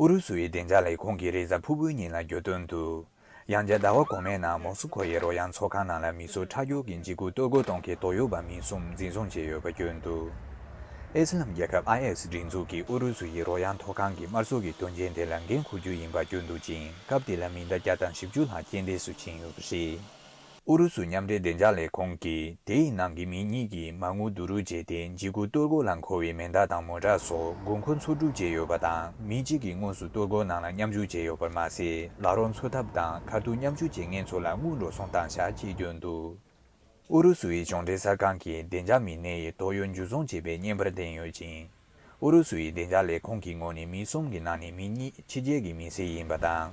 ཨུ་རུ་སུའི་བདེ་འཇགས་ལས་ཁུངས་ཀྱིས་རེས་གཟའ་ཕུར་བུའི་ཉིན་ལ་བརྗོད་དོན་དུ། ཡང་བསྐྱར་ཟླ་བ་གོང་མའི་ནང་མོ་སི་ཁོ་ཡི་རོལ་དབྱངས་ཚོགས་ཁང་ནང་ལ་མི་སོ་ཁྲག་སྒྱུར་གྱི་འཇིགས་སྐུལ་གཏོར་རྒོལ་གཏོང་མཁན་དོགས་ཡོད་པ་མི་གསུམ་འཛིན་བཟུང་བྱས་ཡོད་པ་བརྗོད་འདུག་ཨི་སི་ལམ་རྒྱལ་ཁབ IS སྒྲིག་འཛུགས་ཀྱིས་ཨུ་རུ་སུ་ཡི་རོལ་དབྱངས་ཚོགས་ཁང་གི་དམར་གསོད་ཀྱི་དོན་རྐྱེན་དེ་ལ་འགན་འཁུར་རྒྱུ་ཡིན་པ་བརྗོད་འདུག་ཅིང་སྐབས་དེ་ལ་མི་ཟླ་བརྒྱ་དང་བཞི་བཅུ་ལྷག་རྐྱེན་འདས་སུ་ཕྱིན་ཡོད་པ་རེད། ཨུ་རུ་སུ་མཉམ་འབྲེལ་བདེ་འཇགས་ལས་ཁུངས་ཀྱིས་དེའི་ནང་གི་མི་གཉིས་ཀྱིས་མ་དངུལ་བསྡུ་རུག་བྱས་ཏེ་འཇིགས་སྐུལ་གཏོར་རྒོལ་ལ་མཁོ་བའི་མེ་མདའ་དང་མོ་ཏར་སོགས་དགོས་མཁོ་འཚོལ་སྒྲུབ་བྱས་ཡོད་པ་དང་མི་གཅིག་གིས་དངོས་སུ་གཏོར་རྒོལ་ནང་ལ་མཉམ་ཞུགས་བྱས་ཡོད་པར་མ་ཟད་ལག་རོགས་འཚོལ་ཐབས་དང་ཁ་ཐུག་མཉམ་ཞུགས་བྱེད་མཁན་ཚོ་ལ་དངུལ་འགྲོ་སོང་བཏང་བཞག་བྱས་ཡོད་འདུག་ཨུ་རུ་སུའི་གཞུང་འབྲེལ་གསར་ཁང་གིས་བདེ་འཇགས་མི་སྣའི་དོགས་ཡོད་འཇུ་བཟུང་བྱས་པའི་བརྙན་པར་བསྟན་ཡོད་ཅིང། ཨུ་རུ་སུ་ཡི་བདེ་འཇགས་ལས་ཁུངས་ཀྱི་ངོས་ནས་མི་གསུམ་གྱི་ནང་ནས་མི་གཉིས་ཕྱི་རྒྱལ་གྱི་མི་སེར་ཡིན་པ་དང།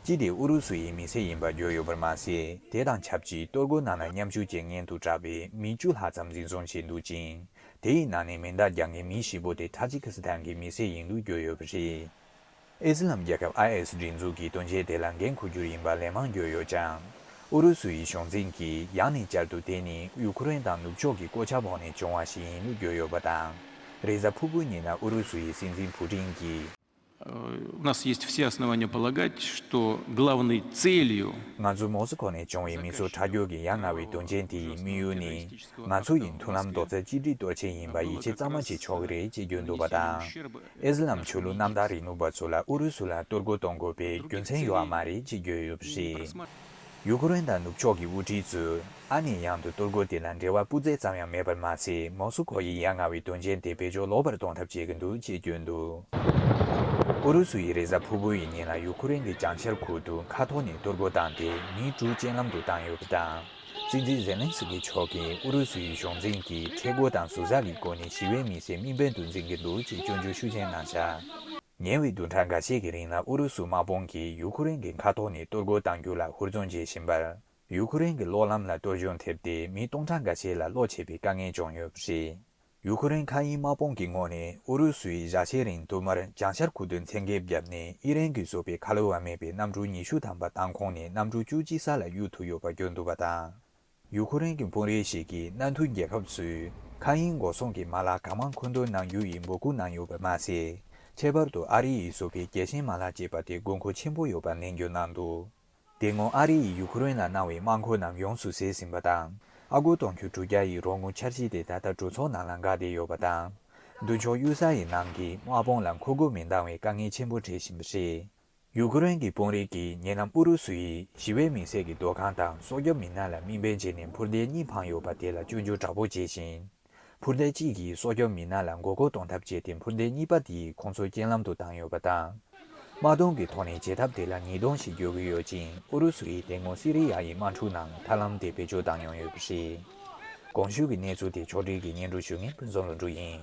གཅིག་དེ་ཨུ་རུ་སུ་ཡི་མི་སེར་ཡིན་པ་བརྗོད་ཡོད་པར་མ་ཟད་དེ་དང་ཆབས་ཅིག་གཏོར་རྒོལ་ནང་ལ་མཉམ་ཞུགས་བྱེད་མཁན་དུ་གྲགས་པའི་མི་བཅུ་ལྷག་ཙམ་འཛིན་བཟུང་བྱས་འདུག་ཅིང། དེ་ཡི་ནང་ནས་མེ་མདའ་རྒྱག་མཁན་མི་བཞི་པོ་དེ་ཐ་ཇི་ཁི་སི་ཐན་གྱི་མི་སེར་ཡིན་འདུག་བརྗོད་ཡོད་པ་རེད། ཨི་སི་ལམ་རྒྱལ་ཁབ་ཨ་ཨེ་སི་སྒྲིག་འཛུགས་ཀྱི་དོན་ཆེན་དེ་ལ་འགན་འཁུར་རྒྱུ་ཡིན་པ་ལན་མང་བརྗོད་ཡོད་ཀྱང། ཨུ་རུ་སུ་ཡི་གཞུང་འཛིན་གྱིས་ཡང་ནས་བསྐྱར་དུ་དེ་ནི་ཡུ་ཁུ་རེན་དང་ནུབ་ཕྱོགས་ཀྱི་བཀོད་ཆ་འཕོག་ནས་བྱུང་བ་ཞིག་ཡིན་ལུགས་བརྗོད་ཡོད་པ་དང། རེས་གཟའ་ཕུར་བུའི་ཉིན་ལ་ཨུ་རུ་སུ་ཡི་སྲིད་འཛིན་ཕུ་ཀྲིན་གྱིས། ང་ཚོ་མོ་སི་ཁོ་ནས་བྱུང་བའི་མི་ཚོ་ཁྲག་སྐྱུག་གི་ཡ་ང་བའི་དོན་ཆེན་དེ་ཡི་དམིགས་ཡུལ་ནི། ང་ཚོ་ཡི་མཐུན་ལམ་རྡོག་རྩ་གཅིག་སྒྲིལ་གཏོད་ཆེད་ཡིན་པ་ཡིད་ཆེས་གཙང་མ་བྱེད་ཆོག་གི་རེད་ཅེས་བརྗོད་འདུག་པ་དང། ཨི་སི་ལམ་ཆོས་ལུགས་གནམ་བདག་རིག་ནུབ་པ་ཚོ་ལ་ཨུ་རུ་སུ་ལ་གཏོར་རྒོལ་གཏོང་དགོས་པའི་རྒྱུ་མཚན་ཡོད་མ་རེད་ཅེས་བརྗོད་ཡོད་པ་རེད། ཡུ་ཀེ་རེན་དང་ནུབ་ཕྱོགས་ཀྱི་དབུ་ཁྲིད་ཚོས་ཨ་ནེ་ཡང་དུ་གཏོར་རྒོལ་དེ་ལ་འབྲེལ་བ་སྤུ་རྩེ་ཙམ་ཡང་མེད་པར་མ་ཚད་མོ་སུ་ཁོ་ཡི་ཡ་ང་བའི་དོན་རྐྱེན་དེ་བེད་སྤྱོད་ལོག་པར་གཏོང་ཐབས་བྱེད་ཀྱི་འདུག་ཅེས་བརྗོད་འདུག་ཨུ་རུ་སུ་ཡིས་རེས་གཟའ་ཕུར་བུའི་ཉིན་ལ་ཡུ་ཀེ་རེན་གྱི་བྱང་ཤར་ཁུལ་དུ་མཁའ་ཐོག་ནས་གཏོར་རྒོལ་བཏང་སྟེ་མི་དྲུག་རྐྱེན་ལམ་དུ་བཏང་ཡོད་པ་དང། སྲིད་འཛིན་ཛེ་ལན་སི་ཀི་མཆོག་གིས་ཨུ་རུ་སུའི་གཞུང་འཛིན་གྱིས་མཁྲེགས་པོ་དང་ཟུར་ཟ་གི་སྒོ་ནས་ཞི་བའི་མི་སེར་དམིགས་འབེན་དུ་འཛིན་གྱི་འདུག་ཅེས་སྐྱོན་བརྗོད་ཤུགས་ཆེན་གནང་འཆར། ཉེ་བའི་བདུན་ཕྲག་འགའ་ཤས་ཀྱི་རིང་ལ་ཨུ་རུ་སུ་དམག་དཔུང་གིས་ཡུའུ་ཁུ་རེན་གྱི་མཁའ་ཐོག་ནས་གཏོར་རྒོལ་གཏང་རྒྱུ་ལ་ཧུར་བརྩོན་བྱེད་བཞིན་པར། ཡུའུ་ཁུ་རེན་གྱི་གློག་ལམ་ལ་གཏོར་གཞོང་ཐེབས་ཏེ་མི་སྟོང་ཕྲག་འགའ་ཤས་ལ་གློག་ཆད་པའི་དཀའ་ངལ་བྱུང་ཡོད་པ་རེད། ཡུ་ཁུ་རེན་མཁའ་དབྱིངས་དམག་དཔུང་གི་ངོས་ནས་ཨུ་རུ་སུའི་བཞའ་ཆའི་རིང་དུ་མར་རྒྱང་ཤར་ཁུག་ཏུ་མཚན་འགེབས་བརྒྱབ་ནས་དབྱི་རན་གྱིས་བཟོས་པའི་ཁ་ལོ་བ་མེད་པའི་གནམ་གྲུ་ཉི་ཤུ་ཐམ་པ་མདང་ཁོངས་ནས་གནམ་གྲུ་བཅུ་གཅིག་ས་ལ་གཡུག་ཐུབ་ཡོད་པ་བརྗོད་འདུག་པ་དང། ཡུ་ཁུ་རེན་གྱི་དཔོན་རིགས་ཤིག་གིས་གནའ་མཐུན་རྒྱལ་ཁབ་ཚོས་མཁའ་དབྱིངས་འགོག་སྲུང་གི་མ་ལག་གང་མང་མཁོ་འདོན་གནང་རྒྱུ་ཡིན་འབོད་སྐུལ་གནང་ཡོད་པ་མ་ཟད། ཁྱད་པར་དུ་ཨ་རི་ཡིས་བཟོས་པའི་རྒྱལ་ཞེན་མ་ལག་ཅེས་པ་དེ་དགོས་མཁོ་ཆེན་པོ་ཡོད་པ་ནན་བརྗོད་གནང་འདུག། དེ་སྔོན་ཨ་རི་ཡིས་ཡུ་ཁུ་རེན་ལ་གནང་བའི་དམག་འཁོར་རྣམས་ཡོངས་སུ་བཟས་ཟིན་པ་དང། ཨ་སྒོར་སྟོང་ཁྱོན་དྲུག་བརྒྱ་ཡི་རོགས་དངུལ་འཆར་གཞི་དེ་ད་ལྟ་གྲོས་ཚོགས་ནང་ལ་འགག་བསྡད་ཡོད་པ་དང། མདུན་ཕྱོགས་གཡུལ་ས་ཡི་ནང་གི་དམག་དཔུང་ལ་མཁོ་དགུ་མི་འདང་བའི་དཀའ་ངལ་ཆེན་པོ་འཕྲད་བཞིན་པ་རེད། ཡུ་ཁུ་རེན་གྱི་དཔོན་རིགས་ཀྱིས་ཉེ་ལམ་ཨུ་རུ་སུ་ཡིས་ཞི་བའི་མི་སེར་གྱི་སྡོད་ཁང་དང་སྲོག་སྐྱོབ་མི་སྣ་ལ་དམིགས་འབེན་བྱས་ནས་འཕུར་མདེལ་གཉིས་འཕངས་ཡོད་པ་དེ་ལ་སྐྱོན་བརྗོད་དྲག་པོ་བྱས་ཤིང། འཕུར་མདེལ་གཅིག་གིས་སྲོག་སྐྱོབ་མི་སྣ་ལ་མགོ་སྐོར་གཏོང་ཐབས་བྱས་ཏེ་འཕུར་མདེལ་གཉིས་པ་དེ་ཁོང་ཚོའི་རྐྱེན་ལམ་དུ་བཏང་ཡོད་པ་དང། དམག་སྡོང་གི་ཐོག་ནས་བྱེད་ཐབས་དེ་ལ་ཉིས་སྟོང་ཞིག་འགྱོད་གི་ཡོད་ཅིང་ཨུ་རུ་སུ་ཡིས་དེ་སྔོན་སི་རི་ཡ་ཡི་དམག་འཁྲུག་ནང་ཐབས་ལམ་དེ་བེད་སྤྱོད་བཏང་མྱོང་ཡོད་པ་རེད། གོང་ཞུས་ཀྱི་གནས་ཚུལ་དེ་ཕྱོགས་སྒྲིག་གིས་སྙན་སྒྲོན་ཞུས་མཁན་ཕུན་ཚོགས་ལོ་འབྲུག་ཡིན།